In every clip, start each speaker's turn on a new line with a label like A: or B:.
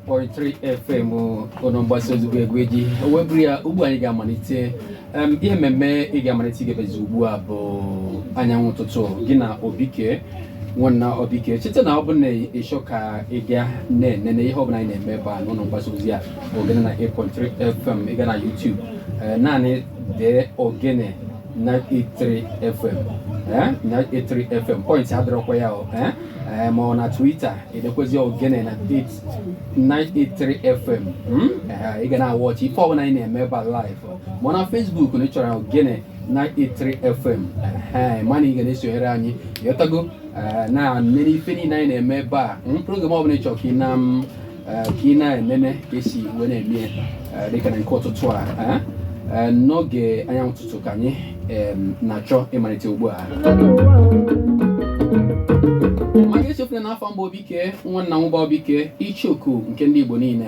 A: 93 FM ụlọ mgbasa ozi bụ egwu eji o wee bụrụ ya ugbu a anyị ga-amalite Em, ihe mmemme ị ga-amalite gebezi ugbu a bụ anyanwụ ụtụtụ gị na obike nwanna obike cheta na ọ bụ na ị chọọ ka ị ga na-enene ihe ọbụla anyị na-eme ebe a n'ụlọ mgbasa ozi a ogene 98.3 FM ị gaa na YouTube eh, naanị dee ogene 983 FM eh? 983 FM point adịrọkwa ya o eh? eh, ma ọ na Twitter i dekwezi ogene 983 FM hmm? eh, ị ga na-awọchi ife ọbụla anyị na-eme ebe a live ma na Facebook ị chọọ ogene 983 FM eh, mana ị ga na-esonyere anyị ịghọtago eh, na-enene ife niile anyị na-eme ebe a hmm? program ọbụla ị chọrọ ka ị na m ka ị na-enene ka esi wee na-eme dịka na nke ụtụtụ a n'oge anyanwụ ụtụtụ ka anyị na-achọ ịmalite ugbu a ma gị echefuna na afa m bụ obike nwanna nwụba obike icheoku nke ndị Igbo niile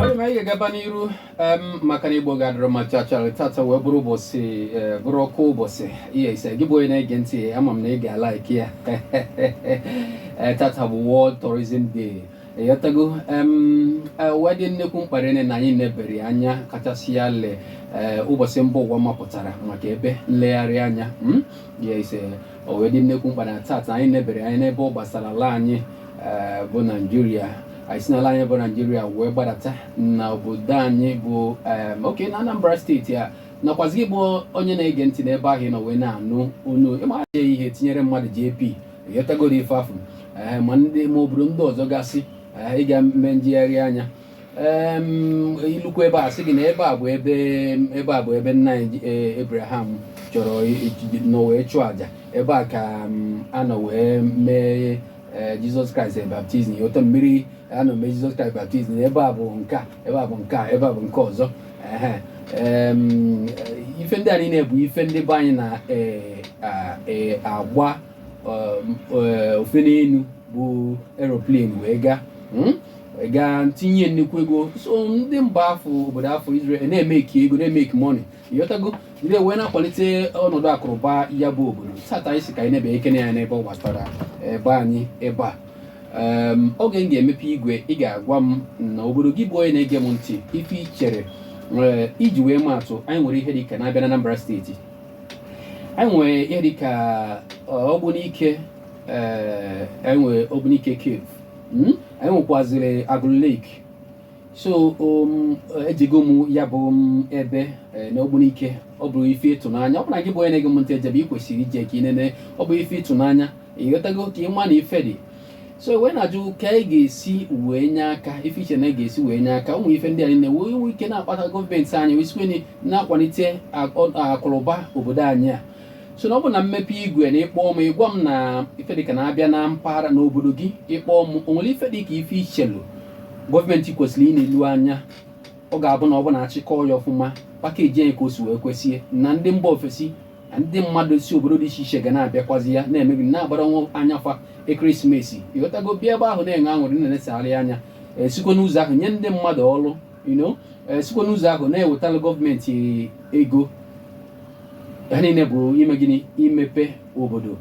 A: ọ dị mma anyị ga-agaba n'iru em, maka na igbo ga-adịrị ma chachara tata wee bụrụ ụbọchị eh, bụrụkwu ụbọchị ihe ise gị bụ onye na-ege ntị ama m na ị ga-alaiki ya Eh, tata bụ World Tourism Day ịghọtago em eh, o wee dị nnekwu mkpa rị na anyị nebere ya anya kachasị ya le eh, ụbọchị mba ụwa mapụtara maka ebe nlegharị anya mm? ya ise o wee dị nnekwu mkpa rị na tata anyị nebere anya n'ebe ọ gbasara ala anyị eh, bụ naijiria anyị si n'ala anyị bụ naijiria wee gbadata na obodo anyị bụ em, Ọka na anambra steeti a nakwazi gị bụ onye na-ege ntị n'ebe ahụ ị nọ wee na-anụ onu ịmara ihe tinyere mmadụ jp ịghọtagoro ife afụ ee ma ndị ma obodo ndị ọzọ gasị ee, ịga eme njegharị anya Ee, m, ilukwa ebe a sị gị na ebe a bụ ebe ebe a bụ ebe nna anyị ji- ee, Abraham chọrọ i- i- nọ wee chụọ aja ebe a ka m, a nọ wee mee ee, Jesus Christ ee, baptism ịghọta mmiri a nọ mee Jesus Christ baptism ebe a bụ nke a ebe a bụ nke a ebe a bụ nke ọzọ Ehe, em, eh, ife ndị a niile bụ ife ndị be anyị na eh, a- eh, agba um, eh, ofe n'elu bụ aeroplane wee gaa mm? wee gaa tinye nnukwu ego so ndị mba afụ obodo afụ Israel na-emeki ego na-emeki money ịghọtago ndị wee na-akwalite ọnọdụ akụnụba ya bụ obodo tata anyị sị ka anyị nebekene anya n'ebe ọ gbasara be anyị ebe a Em, oge m ga-emepe igwe ị ga-agwa m na obodo gị bụ onye na-ege m ntị ife i chere Ee, iji wee maa atụ anyị nwere ihe dịka na a bịa na Anambra steeti anyị nwere ihe dịka ọ, Ogbunike ee, anyị nwere Ogbunike cave Mm? anyị nwekwaziri Agụlụ lake so um, ejego m ya bụ um, ebe eh, n'Ogbunike ọ bụrụ ife ịtụnanya ọ bụrụ na gị bụ onye na-ege m ntị ejebe ị kwesịrị ije ka ị nene ọ bụ ife ịtụnanya ị ghọtago ka ị ma na ife dị so wee na-ajụ ka anyị ga-esi wee nye aka ife i che na a ga-esi wee nye aka ụmụ ife ndị a niile wee nwee ike na-akpata gọọmenti anyị wee sikwene na-akwalite akụrụba obodo anyị a so na ọ bụ na m mepe igwe na ị kpọ m ị gwa m na ife dịka na a bịa na mpaghara n'obodo gị ị kpọ m o nwere ife dịka ife i chelu gọọmenti kwesịrị inelu anya ọ ga-abụ na ọ bụ na a chịkọ ya ọfụma package ya ka o si wee kwesị na ndị mba ofesi na ndị mmadụ si obodo dị iche iche ga na-abịakwazi ya na maybe na-agbara nwa anya fa Christmas ị ghọtago bịa ebe ahụ na-enwe aṅụrị na-enesegharị anya esikwa n'ụzọ ahụ nye ndị mmadụ ọrụ you know eh, sikwa n'ụzọ ahụ na-ewetara gọọmenti ego ha niile bụ ime gịnị imepe obodo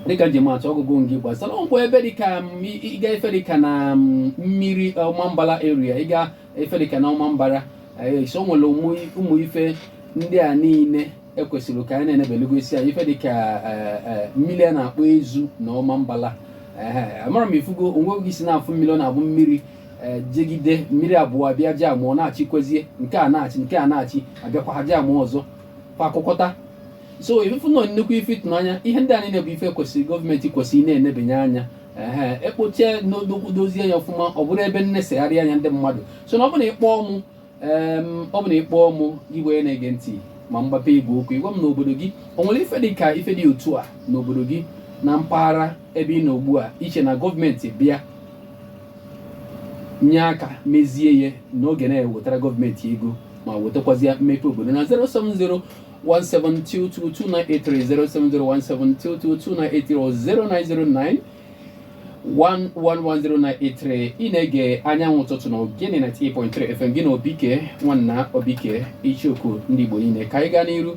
A: dịka m ji ama atụ ọgụgụ nke gbasara ọgwụ ebe dịka m, ị- ị gaa ife dịka na m, mmiri Ọmambala area ị gaa ife dịka na Ọmambara eh, so o nwere ụmụ ụmụ ife ndị a niile e kwesịrị ka anyị na-enebelugo isi anya ife dịka e, e, mmiri a na-akpọ Ezu na Ọmambala amarọ m ị fụgo onwe gị si na-afụ mmiri ọ na-abụ mmiri e, jegide mmiri abụọ abịa jamụọ na-achị kwezie nke a na-achị nke a na-achị abịakwa ha jamụọ ọzọ fa akụkọta so ị fụlụ na ọ nnukwu ife ịtụnanya ihe ndị a niile bụ ife kwesịrị gọọmenti kwesịrị na-enebanye anya ee ekpochie n'odokwu dozie ya ọfụma ọ bụrụ ebe nnesegharị anya ndị mmadụ so na ọ bụrụ na ị kpọọ mụ ee ọ bụ na ị kpọọ mụ gị bụ onye na-ege ntị ma m gbape igwe okwu ị gwa m n'obodo gị o nwere ife dị ka ife dị otu a n'obodo gị na mpaghara ebe ị nọ ugbu a i che na gọọmenti bịa nye aka mezie ya na ọ ga na-ewetara gọọmenti ego ma wetakwazịa mmepe obodo na 070 17222983 070 17222983 0909 1110983 ị na-ege Anyanwụ Ụtụtụ na Ogene 98.3 FM gị na Obike nwanna Obike icheoku ndị Igbo niile ka anyị gaa n'iru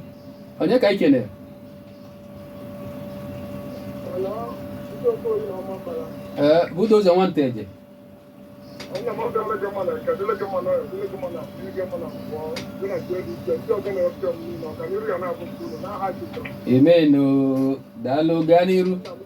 A: onye ka anyị kene ee budo ụzọ nwanta eje emenu daalụ gaa n'iru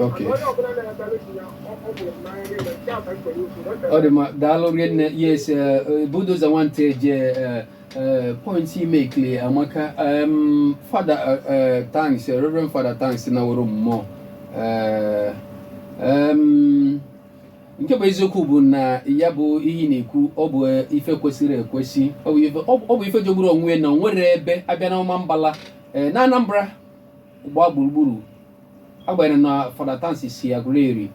A: Okay. ọ dị mma daalụ rinne yes eh, eh, Bulldozer nwa Nteje eh, eh, point ị makeli amaka um, fada eh, eh, Tansi eh, reverend fada Tansi na woro mmụọ Eh, em, nke bụ eziokwu bụ na ya bụ ihe na-ekwu ọ bụ eh, ife kwesịrị ekwesị ọ bụ ife- ọ bụ- ọ bụ ife jọgburu onwe ya na o nwere ebe abịa na Ọmambala eh, na Anambra gbaa gburugburu agbanyeghị na Fada Tansi si Aguleri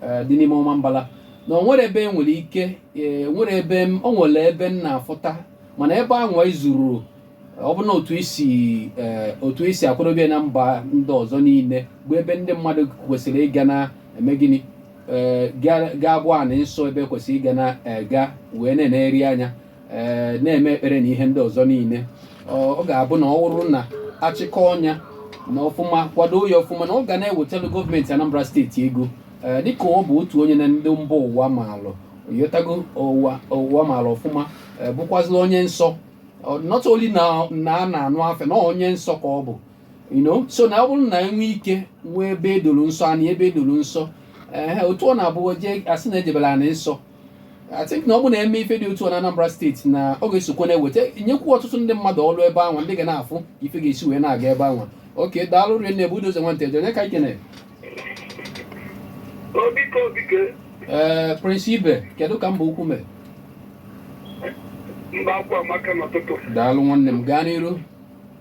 A: eh, dị n'ime Ọmambala na o nwere ebe nwere ike eh, nwere ebe o nwere ebe m na-afụta mana ebe anwa ezurọ ọ bụ na otu esi eh, otu esi akwadobe na mba ndị ọzọ niile bụ ebe ndị mmadụ kwesịrị ịga na-eme gịnị ga-abụ anị nsọ ebe kwesịrị ịga na-ega wee na-enegharị anya ee na-eme ekpere na ihe ndị ọzọ niile ọ ga-abụ na ọ wụrụ na achịkọnye ya na ọfụma kwado ya ọfụma na ọ ga na-ewetara gọọmenti Anambra steeti ego ee dịka ọ bụ otu onye na ndị mba ụwa maalụ yotago ụwa ụwa maalụ ọfụma ee, bụkwazịla onye nsọ Ọ- not only na na a na-anụ afa ya na onye nsọ ka ọ bụ you know so na ọ bụrụ na enwe ike nwee ebe edoro nsọ anị ebe edoro nsọ ee otu ọ na-abụ jee asị na ejebela anị nsọ I think na ọ bụ na eme ife dị otu a na Anambra steeti na ọ ga-esokwa na-ewetanyekwu ọtụtụ ndị mmadụ ọrụ ebe ahụ ndị ga na-afụ ife ga-esi wee na-aga ebe ahụ oke daalụ rinne Bulldozer nwa Nteje onye ka ikene
B: ee
A: Prince Ibe kedu ka Mbaukwu
B: mee daalụ nwanne m gaa
A: n'iru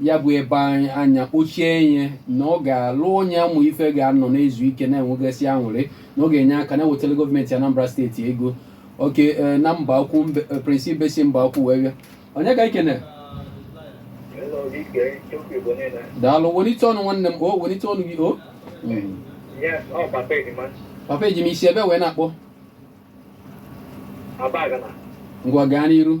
A: ya bụ ebe anya kpochie ihe na ọ ga-alụ onye amụ ife ga-anọ na-ezu ike na-enwegasị aṅụrị na ọ ga-enye aka na-ewetara gọọmenti Anambra steeti ego oke eh, na Mbaukwu mbe- eh, Prince Ibe si Mbaukwu wee bịa onye ka ikene daalụ welite ọnụ nwanne m o welite ọnụ gị o Mm.
B: papa Ejima si ebe
A: wee na-akpọ
B: ngwa gaa n'iru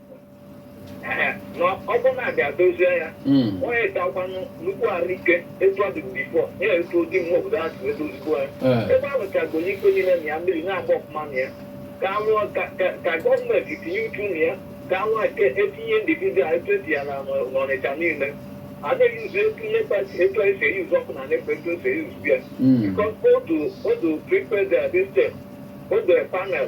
B: na ọ bụ na abịa dozie ya Mm. onye dakwanụ nnukwu arụike etu ọ dị before ya etu ụdị nwa obodo a si edozikwa ya Eh. ebe a lụchago n'ikpe niile na ya mmiri na-agba ọfụma na ya ka anwụ ka- ka- ka gọọmenti tinye uchu na ya ka anwụ eke etinye individual etu esi ya na n'Ọnịcha niile a na-eyuzu etu ihe kpati etu esi eyuzu ọkụ na NEPA etu esi eyuzu ya Mm. because odo odo prepared their this step odo panel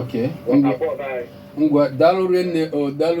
A: Okay.
B: Ngwa
A: daalụ
B: rinne
A: o daalụ